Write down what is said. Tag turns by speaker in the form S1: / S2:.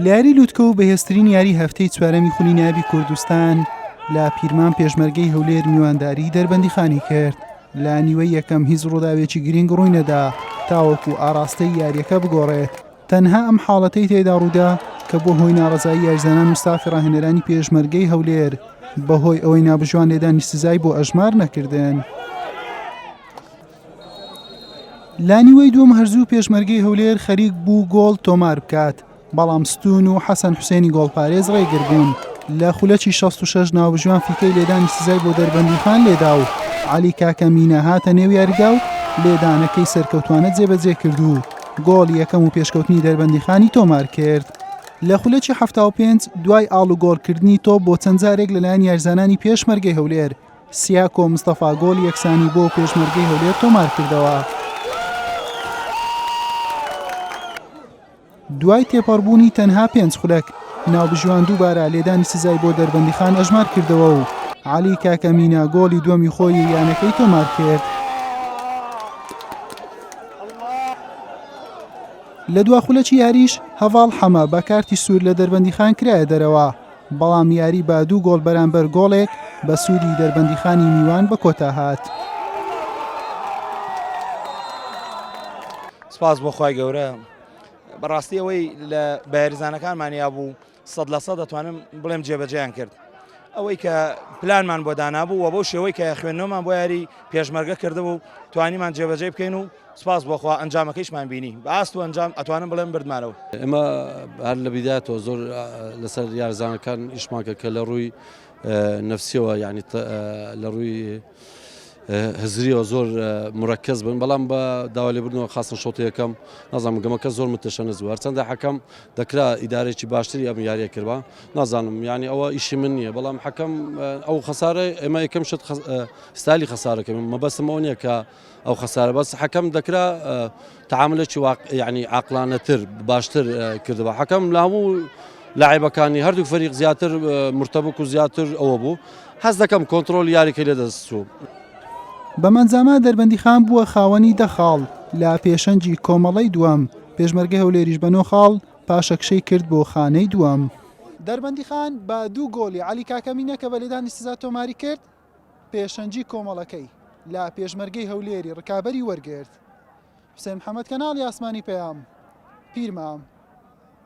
S1: لە یاری لوتکە و بەهێزترین یاری هەفتەی چوارەمی خولی نابی کوردستان لە پیرمان پێشمەرگەی هەولێر میوانداری دەربەندیخانی کرد لە نیوە یەکەم هیچ ڕووداوێکی گرنگ ڕووی نەدا تاوەکو ئاراستەی یاریەکە بگۆڕێت تەنها ئەم حاڵەتەی تێدا ڕوودا کە بۆ هۆی ناڕزایی یاریزانان و ستافی ڕاهێنەرانی پێشمەرگەی هەولێر بەهۆی ئەوەی نابژوان لێدانی سزای بۆ ئەژمار نەکردن. لە نیوەی دووەم هەرزوو پێشمەرگەی هەولێر خەریک بوو گۆڵ تۆمار بکات بەڵام ستون و حەسەن حوسێنی گۆڵپارێز ڕێگربوون لە خولەکی 66 ناوژوان فیکەی لێدانی سزای بۆ دەربەندیخان لێدا و علی کاکە مینە هاتە نێو یاریدا و لێدانەکەی سەرکەوتوانە جێبەجێ کرد و گۆڵ یەکەم و پێشکەوتنی دەربەندیخانی تۆمار کرد. لە خولەکی هەفتا و پێنج دوای ئاڵوگۆڕکردنی تۆپ بۆ چەند جارێک لەلایەن یارزانانی پێشمەرگەی هەولێر سیاکۆ مستەفا گۆڵی یەکسانی بۆ پێشمەرگەی هەولێر تۆمار کردەوە. دوای تێپەڕبوونی تەنها پێنج خولەک ناوبژیوان دووبارە لێدانی سزای بۆ دەربەندیخان ئەژمار کردەوە و علی کاکە مینا گۆڵی دووەمی خۆی یانەکەی تۆمار کرد. لە دوا خولەکی یاریش هەڤاڵ حەمە بە کارتی سوور لە دەربەندیخان کرایە دەرەوە. بەڵام یاری بە دوو گۆڵ بەرامبەر گۆڵێک بە سوودی دەربەندیخانی میوان بە کۆتا هات.
S2: سپاس بۆ خی گەورە بەڕاستی ئەوەی لە بەهێرزانەکانمانیا بوو سەد لە سە دەتوانم بڵێم جێبەجیان کرد ئەوەی کە پلانمان بۆ دانابوو و بۆ شێوەی کە خوێندنەوەمان بۆ یاری پێشمەرگە کردبوو توانیمان جێبەجێ بکەین و سپاس بۆ خوا ئەنجامەکەیشمان بینی بە ئاست و ئەنجام ئەتوانم بڵێم بردمانەوە. ئێمە
S3: هەر لە بیداتەوە زۆر لەسەر یارزانەکان ئیشمانکە کە لە ڕووی نفسیەوە یعنی لە ڕووی هزریەوە زۆر مرەکەز بن بەڵام بە داوا لێ بردنەوە خاستن شۆتی یەکەم نازانم گەمەکە زۆر متەشەنەز بوو هەرچەندە حەکەم دەکرا ئیدارێکی باشتری ئەم یاریە کردوە نازانم ینی ئەوە ئیشی من نییە بەڵام حەکەم ئەو خەسارە ئێمە یەکەم شت ستالی خەسارەکە مەبەسمەوە نیە کە ئەو خەسارە بەس حەکەم دەکرا تعاملێکی یعنی عقلانەتر باشتر کردەوە حەکەم لە هەموو لاعبەکانی هەردوو فەریق زیاتر مرتبک و زیاتر ئەوە بوو حەز دەکەم کۆنتترۆل یاریکە لە دەستچوو
S1: بەمەنجامە دەربەندی خان بووە خاوەنی دەخاڵ لە پێشەنجی کۆمەڵی دووەم پێشمەرگە هەولێریش بە نۆ خاڵ پاشەکشەی کرد بۆ خانەی دووەم. دەربەندیخان بە دوو گۆڵی عەلی کاکەمینە کە بە لێدانی سزا تۆماری کرد، پێشەنگی کۆمەڵەکەی لە پێشمەرگەی هەولێری ڕکابەری وەرگرت حوسێن محەمەد کەناڵی ئاسمانی پەیام پیرمام.